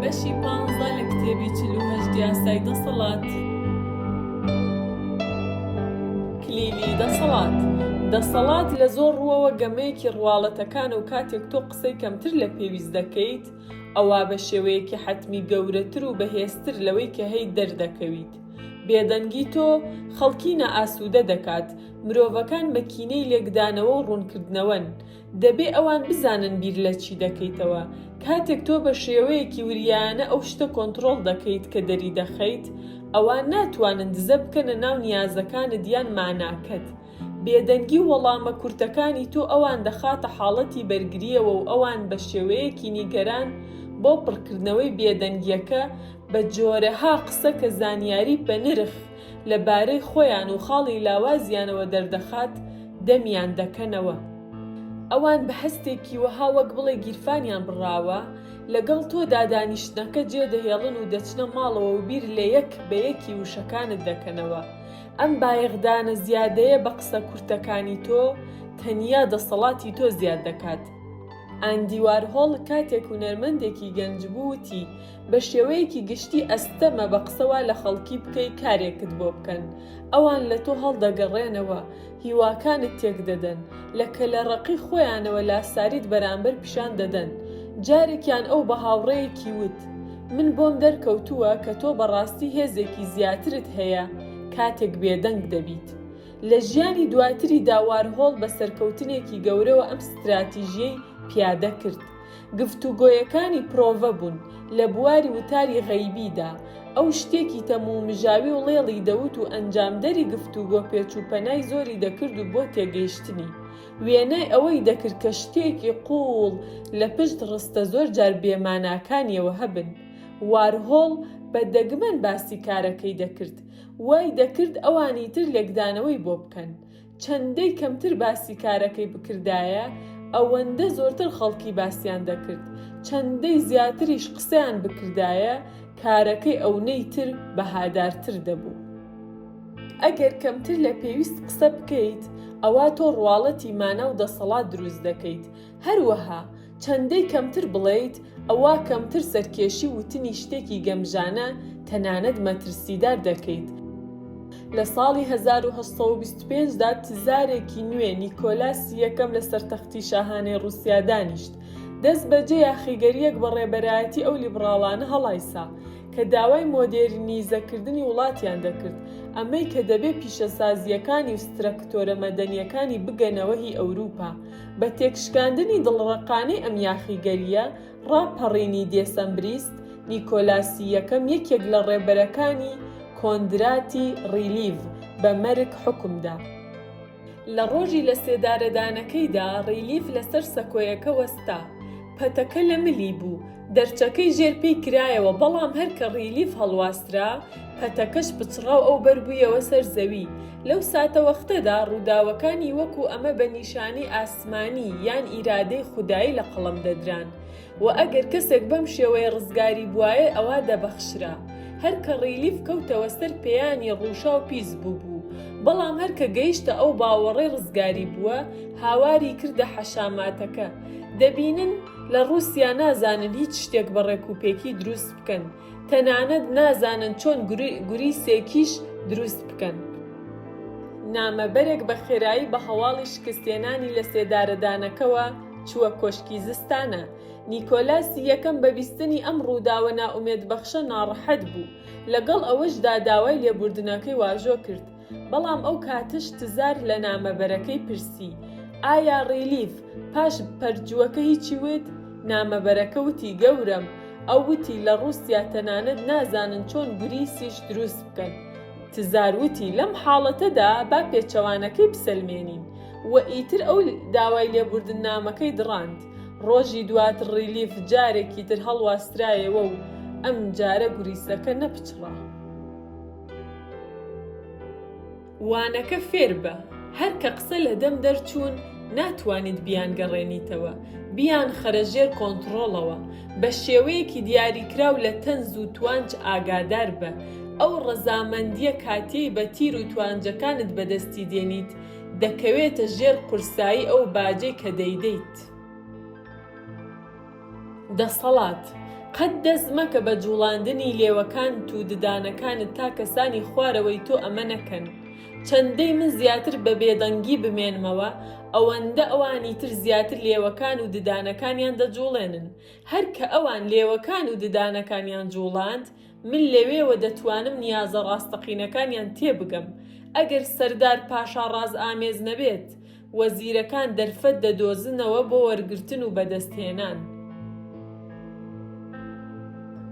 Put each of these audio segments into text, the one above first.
بەشی پانزە لە کتێبی چل و هەشت یاسای دەسەڵات کلیلی دەسەڵات دەسەڵات لە زۆر ڕووەوە گەمەیەکی ڕواڵەتەکانە و کاتێک تۆ قسەی کەمتر لە پێویست دەکەیت ئەوە بە شێوەیەکی حەتمی گەورەتر و بەهێزتر لەوەی کە هەی دەردەکەویت بێدەنگی تۆ خەڵکی نائاسوودە دەکات مرۆڤەکان مەکینەی لێکدانەوە و ڕوونکردنەوەن دەبێ ئەوان بزانن بیر لە چی دەکەیتەوە. کاتێک تۆ بە شێوەیەکی وریایانە ئەو شتە کۆنتڕۆڵ دەکەیت کە دەریدەخەیت، ئەوان ناتوانن دزە بکەنە ناو نیازەکانت یان ماناکەت. بێدەنگی و وەڵامە کورتەکانی تۆ ئەوان دەخاتە حاڵەتی بەرگرییەوە و ئەوان بە شێوەیەکی نیگەران بۆ پڕکردنەوەی بێدەنگییەکە بە جۆرەها قسە کە زانیاری بەنرخ لە بارەی خۆیان و خاڵی لاوازیانەوە دەردەخات، دەمیان دەکەنەوە. ئەوان بە هەستێکی وەها وەک بڵێی گیرفانیان بڕاوە، لەگەڵ تۆدا دانیشتنەکە جێدەهێڵن و دەچنە ماڵەوە و بیر لە یەک بە یەکی وشەکانت دەکەنەوە. ئەم بایەخدانە زیادەیە بە قسە کورتەکانی تۆ، تەنیا دەسەڵاتی تۆ زیاد دەکات. ئاندی وارهۆڵ کاتێک هونەرمەندێکی گەنج بوو وتی، بە شێوەیەکی گشتی ئەستەمە بە قسەوە لە خەڵکی بکەی کارێکت بۆ بکەن، ئەوان لە تۆ هەڵدەگەڕێنەوە، هیواکانت تێکدەدەن، لە کەلەڕەقی خۆیانەوە لاساریت بەرامبەر پیشان دەدەن. جارێکیان ئەو بە هاوڕێیەکی وت، من بۆم دەرکەوتووە کە تۆ بەڕاستی هێزێکی زیاترت هەیە کاتێک بێدەنگ دەبیت. لە ژیانی دواتریدا وارهۆڵ بە سەرکەوتنێکی گەورەوە ئەم ستراتیژیەی پیادە کرد. گفتوگۆیەکانی پرۆڤە بوون لە بواری وتاری غەیبیدا، ئەو شتێکی تەم و مژاوی و ڵێڵی دەوت و ئەنجامدەری گفتوگۆ پێچ و پەنای زۆری دەکرد و بۆ تێگەیشتنی وێنای ئەوەی دەکرد کە شتێکی قووڵ لە پشت ڕستە زۆر جار بێماناکانیەوە هەبن. وارهۆڵ بە دەگمەن باسی کارەکەی دەکرد، وای دەکرد ئەوانی تر لێکدانەوەی بۆ بکەن. چەندەی کەمتر باسی کارەکەی بکردایە ئەوەندە زۆرتر خەڵکی باسیان دەکرد، چەندەی زیاتریش قسەیان بکردایە کارەکەی ئەونەی تر بەهادارتر دەبوو. ئەگەر کەمتر لە پێویست قسە بکەیت ئەوا تۆ ڕواڵەتی مانا و دەسەڵات دروست دەکەیت، هەروەها چەندەی کەمتر بڵێیت ئەوا کەمتر سەرکێشی وتنی شتێکی گەمژانە تەنانەت مەترسیدار دەکەیت. لە ساڵی هەزار و هەشت سەد و بیست و پێنج دا تزارێکی نوێ نیکۆلاسی یەکەم لەسەر تەختی شاهانەی ڕووسیا دانیشت، دەست بەجێ یاخیگەرییەک بە ڕێبەرایەتی ئەو لیبڕاڵانە هەڵایسا کە داوای مۆدێرنیزەکردنی وڵاتیان دەکرد، ئەمەی کە دەبێ پیشەسازییەکانی و سترەکتۆرە مەدەنییەکانی بگەنەوە هی ئەوروپا. بە تێکشکاندنی دڵڕەقانەی ئەم یاخیگەرییە ڕاپەڕینی دێسەمبریست، نیکۆلاسی یەکەم یەکێک لە ڕێبەرەکانی کۆندراتی ڕیلیڤ بە مەرگ حوکم دا. لە ڕۆژی لەسێدارەدانەکەیدا ڕیلیڤ لەسەر سەکۆیەکە وەستا، پەتەکە لە ملی بوو، دەرچەکەی ژێر پێی کرایەوە بەڵام هەر کە ڕیلیف هەڵواسترا پەتەکەش پچڕاو ئەو بەربوویەوە سەر زەوی لەو ساتە وەختەدا ڕووداوەکانی وەکو ئەمە بە نیشانەی ئاسمانی یان ئیرادەی خودایی لە قەڵەم دەدران و ئەگەر کەسێک بەم شێوەیە ڕزگاری بوایە ئەوا دەبەخشرا هەر کە ڕیلیف کەوتەوە سەر پێیانی ڕووشاو پیس بوو بوو بەڵام هەر کە گەیشتە ئەو باوەڕەی ڕزگاری بووە هاواری کردە حەشاماتەکە دەبینن لە ڕووسیا نازانن هیچ شتێک بە ڕێک و پێکی دروست بکەن تەنانەت نازانن چۆن گوری سێکیش دروست بکەن. نامەبەرێک بە خێرایی بە هەواڵی شکستهێنانی لە سێدارەدانەکەوە چووە کۆشکی زستانە. نیکۆلاسی یەکەم بە بیستنی ئەم ڕووداوە نائومێدبەخشە ناڕەحەت بوو، لەگەڵ ئەوەشدا داوای لێبوردنەکەی واژۆ کرد، بەڵام ئەو کاتش تزار لە نامەبەرەکەی پرسی، ئایا ڕیلیف پاش پەرجووەکە هیچی وت؟ نامەبەرەکە وتی، گەورەم، ئەو وتی لە ڕووسیا تەنانەت نازانن چۆن گوریسیش دروست بکەن. تزار وتی، لەم حاڵەتەدا با پێچەوانەکەی بسەلمێنین. و ئیتر ئەو داوای لێبوردننامەکەی دڕاند. ڕۆژی دواتر ڕیلیف جارێکی تر هەڵواسرایەوە و ئەمجارە گوریسەکە نەپچڕا. وانەکە فێربە، هەر کە قسە لە دەم دەرچوون ناتوانیت بیانگەڕێنیتەوە، بیانخەرە ژێر کۆنتڕۆڵەوە، بە شێوەیەکی دیاریکراو لە تەنز و توانج ئاگاداربە، ئەو ڕەزامەندییە کاتیەی بە تیر و توانجەکانت بەدەستی دێنیت دەکەوێتە ژێر قورسایی ئەو باجەی کە دەیدەیت. دەسەڵات، قەت دەست مەکە بە جوڵاندنی لێوەکانت و ددانەکانت تا کەسانی خوارەوەی تۆ ئەمە نەکەن. چەندەی من زیاتر بە بێدەنگی بمێنمەوە، ئەوەندە ئەوانی تر زیاتر لێوەکان و ددانەکانیان دەجوڵێنن. هەر کە ئەوان لێوەکان و ددانەکانیان جوڵاند، من لەوێوە دەتوانم نیازە ڕاستەقینەکانیان تێبگەم. ئەگەر سەردار پاشا ڕازئامێز نەبێت، وەزیرەکان دەرفەت دەدۆزنەوە بۆ وەرگرتن و بەدەستهێنان.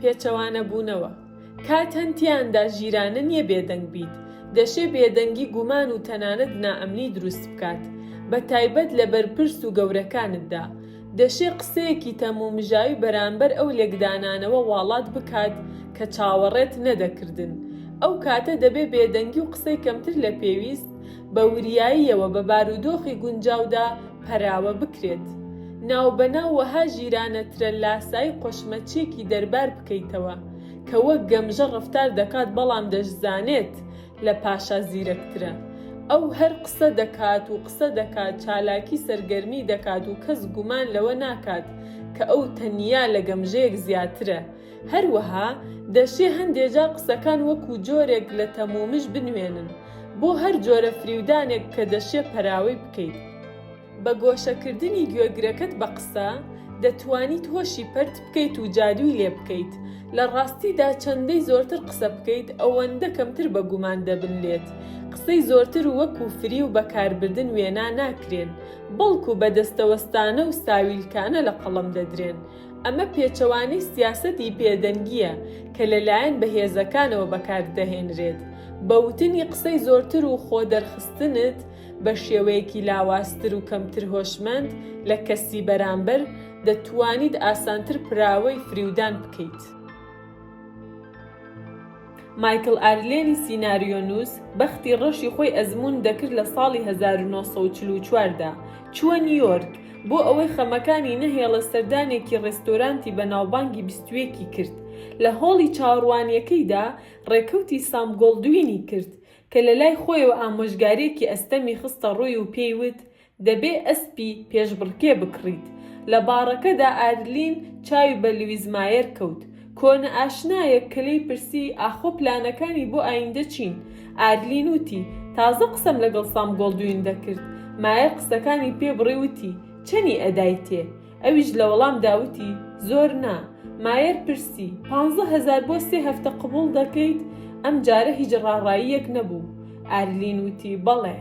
پێچەوانەبوونەوە، کات هەن تێیاندا ژیرانە نییە بێدەنگ بیت، دەشێ بێدەنگی گومان و تەنانەت نائەمنی دروست بکات، بە تایبەت لە بەرپرس و گەورەکانتدا. دەشێ قسەیەکی تەمومژاوی بەرانبەر ئەو لێکدانانەوە واڵات بکات کە چاوەڕێت نەدەکردن. ئەو کاتە دەبێ بێدەنگی و قسەی کەمتر لە پێویست، بە وریاییەوە بە بارودۆخی گونجاودا پەراوە بکرێت. ناوبەناو وەها ژیرانە ترە لاسایی قۆشمەچیەکی دەربار بکەیتەوە کە وەک گەمژە ڕەفتار دەکات بەڵام دەشزانێت لە پاشا زیرەکترە. ئەو هەر قسە دەکات و قسە دەکات چالاکی سەرگەرمی دەکات و کەس گومان لەوە ناکات کە ئەو تەنیا لە گەمژەیەک زیاترە. هەروەها دەشێ هەندێ جار قسەکان وەکوو جۆرێک لە تەمومژ بنوێنن بۆ هەر جۆرە فریودانێک کە دەشێ پەراوەی بکەیت. بە گۆشە کردنی گوێگرەکەت بە قسە، دەتوانیت هۆشی پەرت بکەیت و جادووی لێ بکەیت. لە ڕاستیدا چەندەی زۆرتر قسە بکەیت، ئەوەندە کەمتر بە گومان دەبن لێت. قسەی زۆرتر وەکوو فریو بە کاربردن وێنا ناکرێن، بەڵکوو بە دەستەوەستانە و ساویلکانە لە قەڵەم دەدرێن. ئەمە پێچەوانەی سیاسەتی بێدەنگییە کە لەلایەن بەهێزەکانەوە بەکاردەهێنرێت، بە وتنی قسەی زۆرتر و خۆ دەرخستنت بە شێوەیەکی لاوازتر و کەمتر هۆشمەند لە کەسی بەرامبەر، دەتوانیت ئاسانتر پراوەی فریودان بکەیت. مایکڵ ئارلێنی سیناریۆنووس بەختی ڕەشی خۆی ئەزموون دەکرد لە ساڵی هەزار و نۆ سەد و چل و چوار دا، چووە نیویۆرک بۆ ئەوەی خەمەکانی نەهێڵێت سەردانێکی ڕێستۆرانتی بەناوبانگی بیست و یەک ی کرد لە هۆڵی چاوەڕوانییەکەیدا ڕێکەوتی سام گۆڵدوینی کرد کە لەلای خۆیەوە ئامۆژگارییەکی ئەستەمی خستە ڕووی و پێی وت دەبێ ئەسپی پێشبڕکێ بکڕیت. لە باڕەکەدا ئارلین چاوی بە لویس مایەر کەوت. کۆنەئاشنایەک کە لێی پرسی ئاخۆ پلانەکانی بۆ ئایندە چین؟ ئارلین وتی، تازە قسەم لەگەڵ سام گۆڵدوین دەکرد. مایەر قسەکانی پێ بڕی وتی، چەنی ئەدایتێ؟ ئەویش لە وەڵامدا وتی، زۆر نا. مایەر پرسی، پانزە هەزار بۆ سێ هەفتە قبوڵ دەکەیت؟ ئەمجارە هیچ ڕاڕاییەک نەبوو. ئارلین وتی، بەڵێ.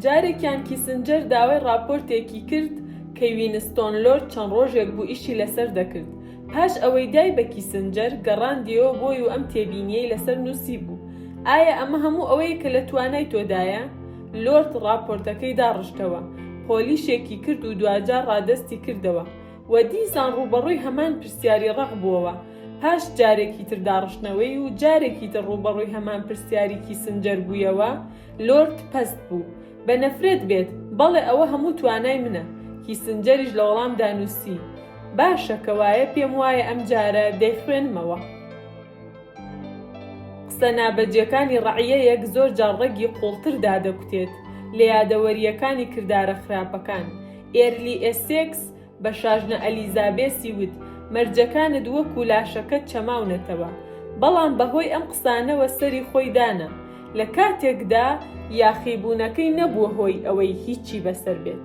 جارێکیان کیسنجەر داوای ڕاپۆرتێکی کرد کە وینستۆن لۆرد چەند ڕۆژێک بوو ئیشی لەسەر دەکرد، پاش ئەوەی دای بە کیسنجەر، گەڕاندیەوە بۆی و ئەم تێبینیەی لەسەر نوسیبوو، ئایا ئەمە هەموو ئەوەیە کە لە توانای تۆدایە؟ لۆرد ڕاپۆرتەکەی داڕشتەوە، پۆلیشێکی کرد و دواجار ڕادەستی کردەوە. و دیسان ڕووبەڕووی هەمان پرسیاری ڕەق بووەوە، پاش جارێکی تر داڕشتنەوەی و جارێکی تر ڕووبەڕووی هەمان پرسیاری کیسنجەر بوویەوە، لۆرد پەست بوو. بە نەفرەت بێت، بەڵێ ئەوە هەموو توانای منە. کیسنجەریش لە وەڵامدا نووسی، باشە کە وایە پێم وایە ئەم جارە دەیخوێنمەوە. قسە نابەجێکانی ڕەعیەیەک زۆر جار ڕەگی قووڵتر دادەکوتێت لە یادەوەرییەکانی کردارە خراپەکان. ئێرلی ئێسێکس بە شاژنە ئەلیزابێسی وت، مەرجەکانت وەکوو لاشەکەت چەماونەتەوە. بەڵام بەهۆی ئەم قسانەوە سەری خۆی دانا، لە کاتێکدا یاخیبوونەکەی نەبووە هۆی ئەوەی هیچی بەسەر بێت.